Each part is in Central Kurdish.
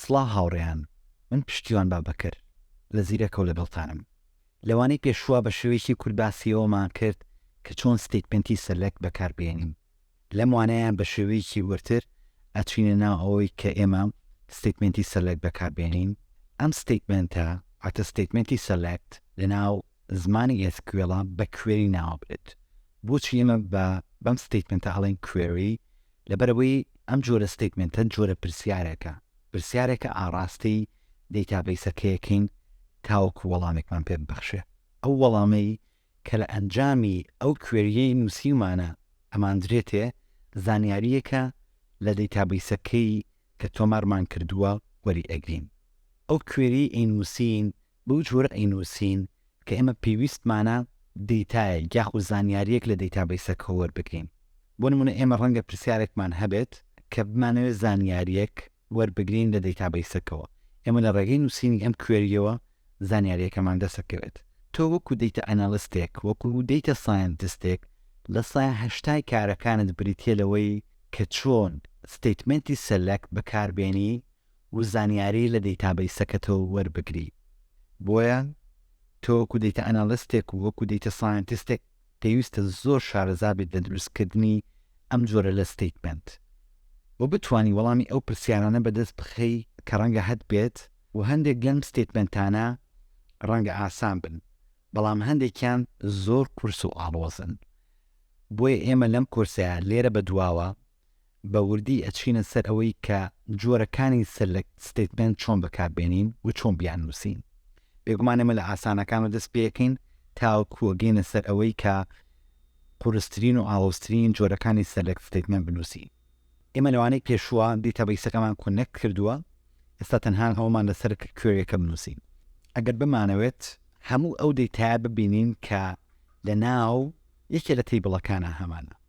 سڵاو هاوڕێیان من پشتیوان بابەکر لە زیرەکە و لەگەڵتانم. لەوانەی پێشووە بە شێوەیەکی کورت باسی ئەوەمان کرد کە چۆن ستەیتمێنتی سەلەک بەکار بێنین. لەم وانەیە بە شێوەیەکی وردتر ئەچینە ناو ئەوەی کە ئێمە ستەیتمێنتی سەلەک بەکار بێنین. ئەم ستەیتمێنتە واتە ستەیتمێنتی سەلەکت لە ناو زمانی ئێس کیوێڵا بە کوێری ناوبرد. بۆچی ئێمە بە بەم ستەیتمێنتە ئەڵێین کوێری لەبەرئەوەی ئەم جۆرە ستەیتمێنتە جۆرە پرسیارێکە، پرسیارێکە ئاڕاستەی دەیتابەیسەکەیەکەین تاوەکو وەڵامێکمان پێ ببەخشێ، ئەو وەڵامەی کە لە ئەنجامی ئەو کوێرییەی نووسیومانە ئەماندرێتێ زانیارییەکە لە دەیتابەیسەکەی کە تۆمارمان کردووە وەریئەگرین. ئەو کوێرییەی ئەینووسین بەو جۆرە ئەینووسین کە ئێمە پێویستمانە دەیتایەک یاخود زانیارییەک لە دەیتابەیسەکە وەربگرین. بۆ نموونە ئێمە ڕەنگە پرسیارێکمان هەبێت کە بمانەوێت زانیارییەک وەربگرین لە دەیتابەیسەکەوە، ئێمە لە ڕێگەی نووسینی ئەم کوێرییەوە زانیارییەکەمان دەست دەکەوێت. تۆ وەکو دەیتا ئەنالیستێک، وەکو دەیتا سایەنتستێک لە سەدا هەشتای کارەکانت بریتییە لەوەی کە چۆن ستەیتمێنتی سەلەکت بەکاربێنی و زانیاری لە دەیتابەیسەکەتەوە وەربگری، بۆیە تۆ وەکو دەیتە ئەناڵستێک و وەکو دەیتە ساینتستێک پێویستە زۆر شارەزا بیت لە دروستکردنی ئەم جۆرە لە ستەیتمێنت و بتوانی وەڵامی ئەو پرسیارانە بەدەست بخەی کە ڕەنگە هەتبێت و هەندێک لەم ستەیتمێنتانە ڕەنگە ئاسان بن بەڵام هەندێکیان زۆر قورس و ئاڵۆزن بۆیە ئێمە لەم کۆرسەیا لێرە بەدواوە بە وردی ئەچینە سەر ئەوەی کە جۆرەکانی سەلەکت ستەیتمێنت چۆن بەکار بێنین و چۆن بیان نووسین. بێگومان ئێمە لە ئاسانەکانەوە دەست پێ ئەکەین تاوەکو ئەگەینە سەر ئەوەی کە قورسترین و ئاڵۆزترین جۆرەکانی سەلەکت ستەیتمێنت بنووسین. ئێمە لەوانەی پێشووە دیتابەیسەکەمان کۆنێکت کردووە، ئێستا تەنها ئەوەمان لەسەرە کە کوێریەکە بنووسین. ئەگەر بمانەوێت هەموو ئەو دەیتایە ببینین کە لەناو یەکێ لە تەیبڵەکانا هەمانە.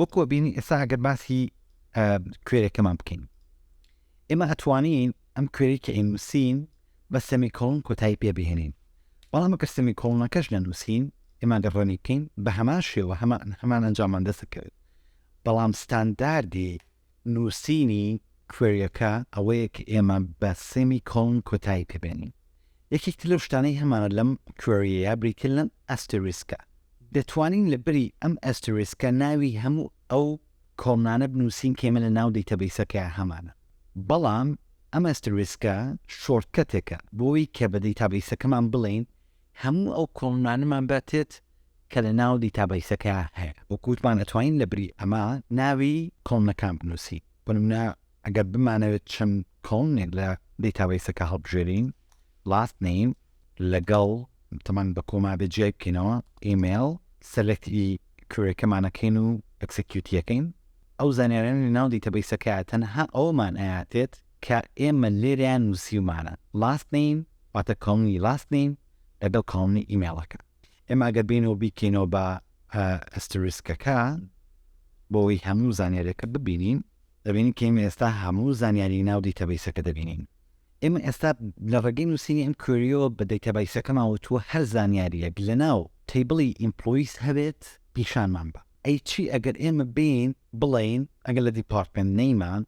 وەکوە بینی ئێستا ئەگەر باسی کوێرەکەمان بکەین ئێمە ئەتوانین ئەم کوێری کە ئینوسین بە سەمیکۆڵن کۆتایی پێ بهێنین بەڵام ئەگەر سەمیکۆڵنەکەش نەنووسین ئێمە گەر ڕەنی بکەین بە هەمان شێوە هەمان هەمان ئەنجامان دەسەکەوێت بەڵام ستانداردی نووسینی کوێریەکە ئەوەیە کە ئێمە بە سێمی کۆڵن کۆتایی پێ بێنین. یەکێکتر لەو شتانەی هەمانە لەم کوێریەیە بریتیە لەم ئەستێریسکە. دەتوانین لە بری ئەم ئەستێریسکە ناوی هەموو ئەو کۆڵنانە بنووسین کە ئێمە لە ناو دەیتابەیسەکەیان هەمانە. بەڵام ئەم ئەستێریسکە شۆرتکەتێکە بۆ ئەوەی کە بە دەیتابەیسەکەمان بڵێین هەموو ئەو کۆڵنانەمان بەتێت کە لە ناو دیتابەیسەکە هەیە. وەک وتمان ئەتوانین لە بری ئەمە ناوی کۆڵنەکان بنووسین. بۆ نموونە ئەگەر بمانەوێت چەند کۆڵنێک لە دیتابەیسەکە هەڵبژێرین، لاست نەیم لەگەڵ تەمان بە کۆما بێت جیای بکەینەوە، ئیمەیڵ، سەلێکت ی کوێریەکەمان ئەکەین و ئەکسکیوتی ئەکەین. ئەو زانیاریانە لە ناو دیتابەیسەکە تەنها ئەوەمان ئەیاتێت کە ئێمە لێرەیان نووسیومانە، لاست نەیم واتە کاڵنی لاست نیم لەگەڵ کاڵنی ئیمێڵەکە ئێمە گەر بینەوە بیکەینەوە بە ئەستریسکەکە بۆی هەموو زانیارەکە ببینین دەبینین کە ئمە ئێستا هەموو زانیاری ناو دیتەبیسەکە دەبینین ئێمە ئێستا لە ڕێگەی نووسینی ئەم کوریۆ بە دیتەبیسەکەمان وتووە هەر زانیاریەک لە ناو تیبڵی ئیمپلویس هەبێت پیشانمان بە ئەی چی ئەگەر ئێمە بین بڵین ئەگەر لە دیپارتمنت نەیمان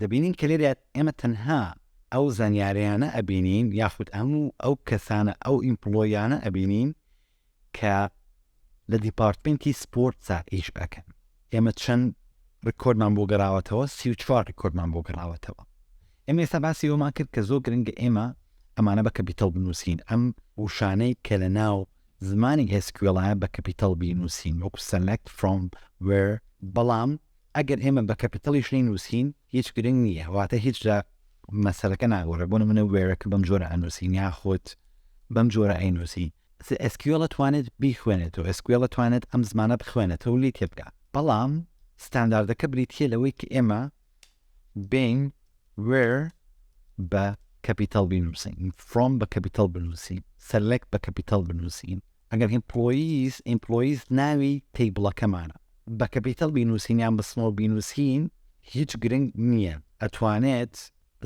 دەبینین کە لێرە ئێمە تەنها ئەو زانیاریانە ئەبینین یاخود هەموو ئەو کەسانە ئەو ئیمپلۆیانە ئەبینین کە لە دیپارتمنتی سپۆرتسا ئیش ئەکەن ئێمە چەند ڕکۆردمان بۆ گەڕاوەتەوە سی و چوار ڕکۆردمان بۆ گەڕاوەتەوە ئێمە ئێستا باسی ئەومان کرد کە زۆر گرنگە ئێمە ئەمانە بە کەپیتەڵ بنووسین ئەم وشانەی کە لە ناو زمانی ئێسکوێڵایە بە کەپیتەڵ بینووسین وەکو سەلەکت فرۆم وێر بەڵام ئەگەر ئێمە بە کەپیتەڵیش نەینووسین هیچ گرنگ نییە، واتە هیچ لە مەسەلەکە ناگۆڕێ، بۆ نموونە وێرەکە بەم جۆرە ئەنووسین یاخود بەم جۆرە ئەینووسی. ئێس کیو ئێڵ ئەتوانێت بیخوێنێتەوە، ئێس کیو ئێڵ ئەتوانێت ئەم زمانە بخوێنێتەوە و لێی تێبگا، بەڵام ستانداردەکە بریتییە لەوەی کە ئێمە بین وێر بە کەپیتەڵ بینووسین، فرۆم بە کەپیتەڵ بنووسین، سەلێکت بە کەپیتەڵ بنووسین، ئەگەر ئیمپلۆییز، Employees، ناوی تەیبڵەکەمانە بە کەپیتەڵ بینووسین یان بە سمۆڵ بینووسین هیچ گرنگ نییە ئەتوانێت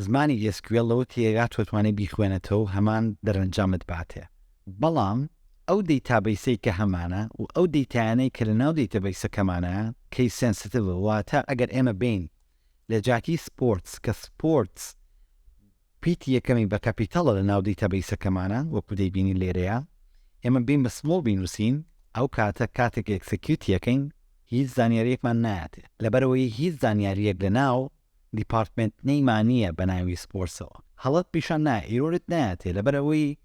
زمانی SQL لەو تێگا تۆتوانێت بیخوێنێتەوەو هەمان دەرەنجامت باتێ بەڵام ئەو دەیتابەیسەی کە هەمانە و ئەو دەیتایانەی کە لە ناو دەیتەبەیسەکەمانە کەیس سێنسیتڤە واتە ئەگەر ئێمە بێین لە جاتی سپۆرتس کە سپۆرتس پیتی یەکەمی بە کەپیتەڵە لە ناو دەیتابەیسەکەمانا وەکو دەیبینین لێرەیا ئێمە بین بە سمۆڵ بینوسین ئەو کاتە کاتێک ئێکسەکیوتی ئەکەین هیچ زانیاریەکمان نایەتێ لەبەرئەوەی هیچ زانیاریەک لە ناو دیپارتمێنت نەیمانیە بە ناوی سپۆرسەوە هەڵەت پیشان نایە ئیرۆرت نایەتێ لەبەرئەوەی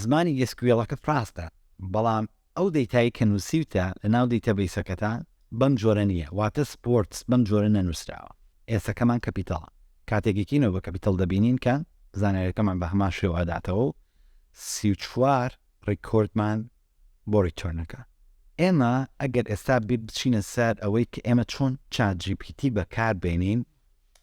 زمانی ئێسکویەڵەکەت ڕاستە بەڵام ئەو دەیتای کە نوسیوتە لە ناو دەیتە بەیسەکەتا بەم جۆرە نیە واتە سپۆرتس بەم جۆرە نەنوسراوە ئێسەکەمان کەپیتەڵە کاتێک یەکینەوە بە کەپیتەڵ دەبینین کە زانیاریەکەمان بە هەمان شێوە ئەداتەوەو سی و چوار ڕیکۆردمان بۆ ڕیتۆرن ئەکا. ئێمە ئەگەر ئێستا بیر بچینە سەر ئەوەی کە ئێمە چۆن چات جی پی تی بەکار بێنین،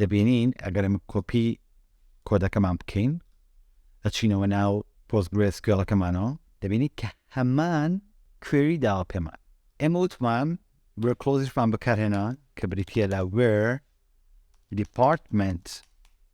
دەبینین ئەگەر ئەمە کۆپی کۆدەکەمان بکەین ئەچینەوە ناو پۆستگرێس کوێڵەکەمانەوە دەبینی کە هەمان کوێری داوا پێمان ئێمە وتمان گوێر کلۆزیشمان بەکارهێنا کە بریتە لە وێر دیپارتمنت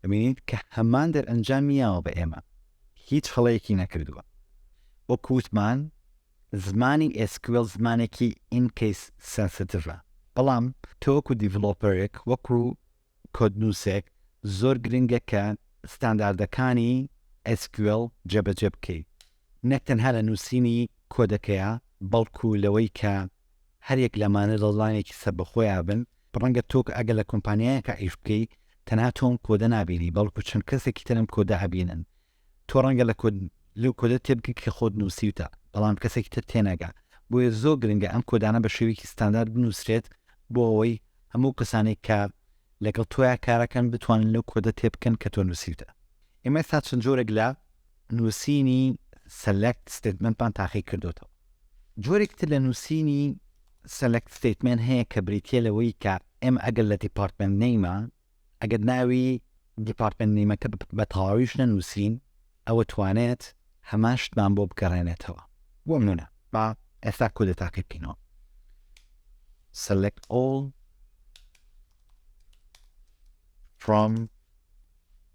دەبینین کە هەمان دەرئەنجامی یاوە بە ئێمە، هیچ هەڵەیەکی نەکردووە. وەکو وتمان زمانی ئێس کیو ئێڵ زمانێکی ئین کەیس سێنسیتیڤە، بەڵام تۆ وەکو دیڤلۆپەرێک، وەکو کۆدنووسێک زۆر گرنگە کە ستانداردەکانی ئێس کیو ئێڵ جێبەجێ بکەی، نەک تەنها لە نووسینی کۆدەکەیا، بەڵکو لەوەی کە هەریەک لەمانە دڵنانێکی سەربەخۆیا بن ڕەنگە تۆ کە ئەگەر لە کۆمپانیایەکا ئیش بکەی تەنها تۆ ئەم کۆدە نابینی بەڵکو چەند کەسێکی تر ئەم کۆدە ئەبینن تۆ ڕەنگە لە کۆد لەو کۆدە تێبگەی کە خۆت نووسیوتە بەڵام کەسێکی تر تێناگا بۆیە زۆر گرنگە ئەم کۆدانە بە شێوەیەکی ستاندارد بنووسرێت بۆ ئەوەی هەموو کەسانێک کە لەگەڵ تۆیا کارەکەن بتوانن لەو کۆدە تێبکەن کە تۆ نووسیوتە ئێمە سا چەند جۆرێک لە نووسینی سەلەکت ستێتمنتمان تاقی کردوتەوە جۆرێکی تر لە نووسینی سەلەکت ستەیتمێنت هەیە کە بریتییە لەوەی کە ئێمە ئەگەر لە دیپارتمێنت نەیمە، ئەگەر ناوی دیپارتمێنت نەیمەکە بە تەواویش نەنووسین، ئەوە توانێت هەمان شتمان بۆ بگەڕێنێتەوە. بۆ نموونە با ئێستا کودەتاکەی بکەینەوە select all from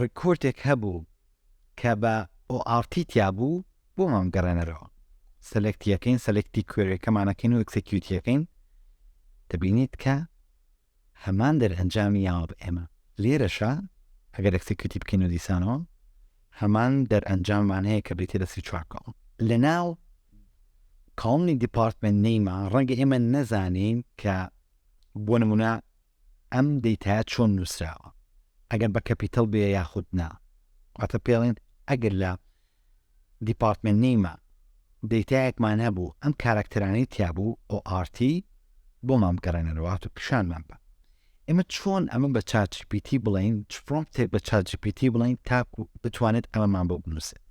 ڕیکۆردێک هەبوو کە بە ORT تیا بوو بۆمان بگەڕێنەرەوە سەلێکتی یەکەین سەلێکتی کوێرەکەمان ئەکەین و ئێکسێکیوتی یەکەین دەبینیت کە هەمان دەرئەنجامی یاوە بە ئێمە لێرەشە ئەگەر ئێکسێکیوتی بکەین و دیسانەوە هەمان دەرئەنجاممان هەیە کە بریتە لە سی چوار کاڵم لە ناو کاڵمی دیپارتمنت نەیما ڕەنگە ئێمە نەزانین کە بۆ نمونە ئەم دەیتایە چۆن نووسراوە ئەگەر بە کەپیتەڵ بێ یاخود نا واتە پێڵێن ئەگەر لە دیپارتمێنت نیمە دەیتایەکمان هەبوو ئەم کارەکتەرانەی تیابوو ئۆ ئارتی بۆمان بگەڕێنەرەوات و پیشانمان بە ئێمە چۆن ئەمە بە چاچپیتی بڵین چ فرۆمتێک بە چاجپیتی بڵین تاکو بتوانێت ئەمەمان بۆ بنووسێت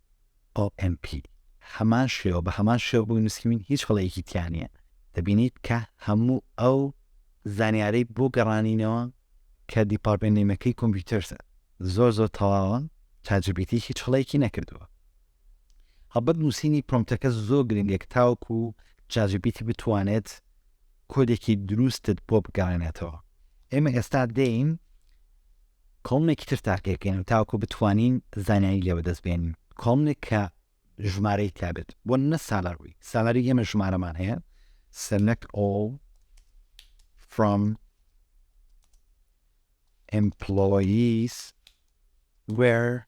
OMP، هەمان شێوە بە هەمان شێوە بۆی نووسیوین هیچ هەڵەیەکی تیا نییە، دەبینیت کە هەموو ئەو زانیارەی بۆ گەڕانینەوە کە دیپارتمێنت نەیمەکەی کۆمپیوتەرس زۆر زۆر تەواوە چات جی پی تی هیچ هەڵەیەکی نەکردووە هەڵبەت نووسینی پرۆمتەکە زۆر گرنگێک تاوەکو چات جی پی تی بتوانێت کۆدێکی دروستت بۆ بگەڕێنێتەوە ئێمە ئێستا دێین کۆڵنێکی تر تاقی بکەین تاوەکو بتوانین زانیاری لێ وەدەست بێنین کۆڵنێک کە ژمارەی تابێت بۆ نە سالار بووی سالاری ئێمە ژمارەمان هەیە سلکت ئۆڵ فرۆم ئمپلۆییس وێر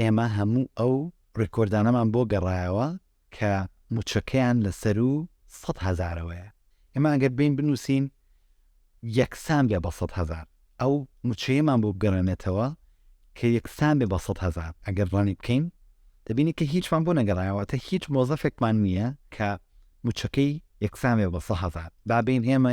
ئێمە هەموو ئەو ڕیکۆردانەمان بۆ گەڕایەوە کە موچەکەیان لە سەرو سەد هەزارەوەیە ئێمە ئەگەر بێین بنوسین یەکسان بێ بە سەد هەزار ئەو موچەیەمان بۆ بگەڕێنێتەوە کە یەکسان بێ بە سەد هەزار ئەگەر ڕەنی بکەین دەبینی کە هیچمان بۆ نەگەڕایەوە واتە هیچ مۆزەفێکمان نییە کە موچەکەی یەکسان بێ بە سەد هەزار با بێین ئێمە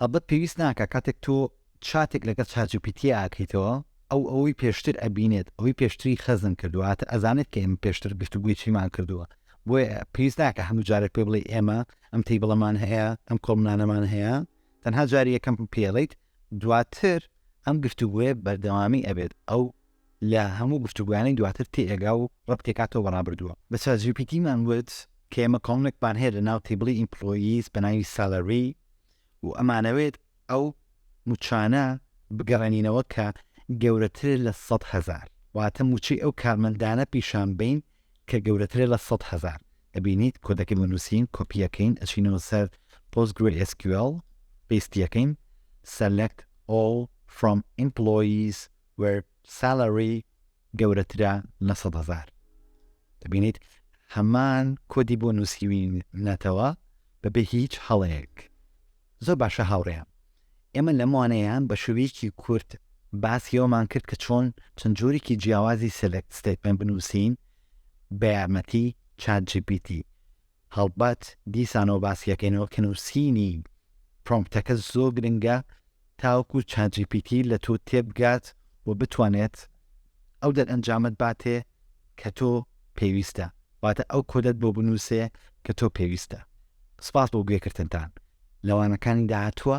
هەڵبەت پێویست ناکا کاتێک تۆ چاتێک لەگەڵ چاتجیپیتی ئاکەیتەوە ئەو ئەوەی پێشتر ئەبینێت ئەوەی پێشتری خەزن کردوە واتە ئەزانێت کە ئێمە پێشتر گفتوگۆی چیمان کردوە بۆیە پێویست ناکە هەموو جارێک پێ بڵێی ئێمە ئەم تەیبڵەمان هەیە ئەم کۆڵمنانەمان هەیە تەنها جاری یەکەم پێڵیت دواتر ئەم گفتوگۆیە بەردەوامی ئەبێت ئەو لە هەموو گفتوگۆیانەی دواتر تێئەگا و ڕەبتیئەکاتەوە بە ڕابردووە. بە چات جی پی تیمان وت کە ئێمە کۆڵنێکمان هەیە لە ناو تیبڵی ئیمپڵۆییس بە ناوی سالەری و ئەمانەوێت ئەو موچانە بگەڕێنینەوە کە گەورەترە لە سەد هەزار، واتە موچەی ئەو کارمەندانە پیشان بەین کە گەورەترە لە سەد هەزار. ئەبینیت کۆدەکەی بۆ نوسین، کۆپیئەکەین ئەچینەوە سەر PostgreSQL، پێستیئەکەین Select All From Employees where salary گەورەترە لە سەد هەزار دەبینیت هەمان کۆدی بۆ نووسیوینەتەوە بەبێ هیچ هەڵەیەک زۆر باشە هاوڕێیان ئێمە لەمانەیان بە شوویکی کورت باسیەوەمان کرد کە چۆن چەند جۆرێکی جیاوازی سلکت ستیتمن بنووسین بە یارمەتی چات جیپیتی هەڵبەت دیسانەوە باسیەکەینەوە کە نووسینی پرۆمپتەکە زۆر گرنگە تاوەکو چاجیپیتی لە تۆ تێبگات و بتوانێت ئەو دەرئەنجامت باتێ کە تۆ پێویستە واتە ئەو کۆدەت بۆ بنووسێ کە تۆ پێویستە سپاس بۆ گوێکردنتان لەوانەکانی داهاتووە